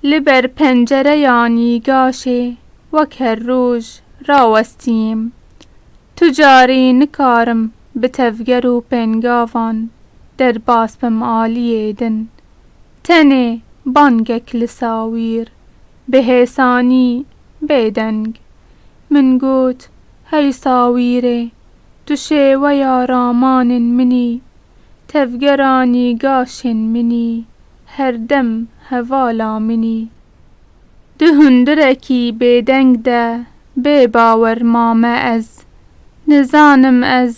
Li ber pencereya nîgaşê wek her roj rawestîm. Tu carî nikarim bi tevger û pengavan derbas bim aliyê din. Tenê bangek li sawîr, bi hêsanî bêdeng, min got, Hey sawîrê, Tu şêweya ramanên min î, tevgera nîgaşên min î, her dem hevala min î. Di hundirekî bêdeng de bê bawer mame ez, nizanim ez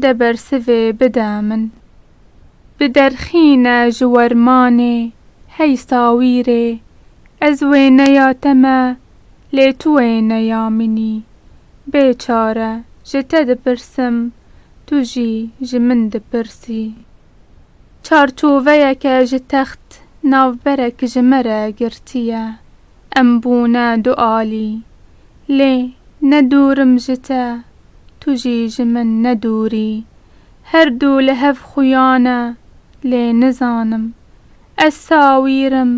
de bersivê bide min. Bi derxîne ji wermanê hey sawîrê ez wêneya te me Lê tu wê ne ya min î. Bê çare ji te dipirsim, tu jî ji min dipirsî. Çarçoveyeke ji text navberek ji me re girtiye. Em bûne du alî. Lê ne dûrim ji te, tu jî ji min ne dûrî. Her du li hev xuya ne, lê nizanim. Ez sawîr im,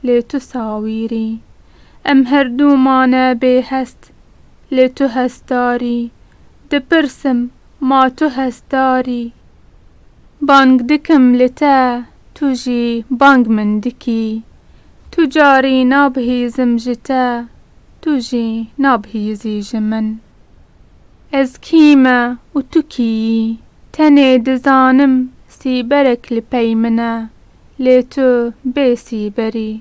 lê tu sawîr î. Em herdû mane bêhest, lê tu hestar î. Dipirsim, ma tu hestar î? Bang dikim li te, tu jî bang min dikî. Tu carî nabihîzim ji te, tu jî nabihîzî ji min. Ez kî me û tu kî yî? Tenê dizanim sîberek li pey min e. lê tu bê sîberî.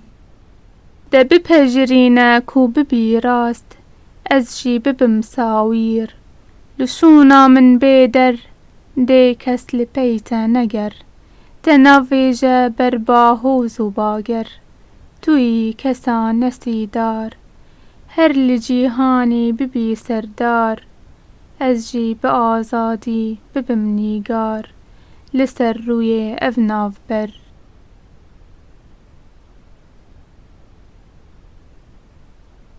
De bipejirîne ku bibî rast, ez jî bibim sawîr. Li şûna min bê der, dê kes li pey te neger. Te navêje ber bahoz û bager, tu yî kesa nesîdar. Her li cîhanî bibî serdar, ez jî bi azadî bibim nîgar. Li ser rûyê ev navber.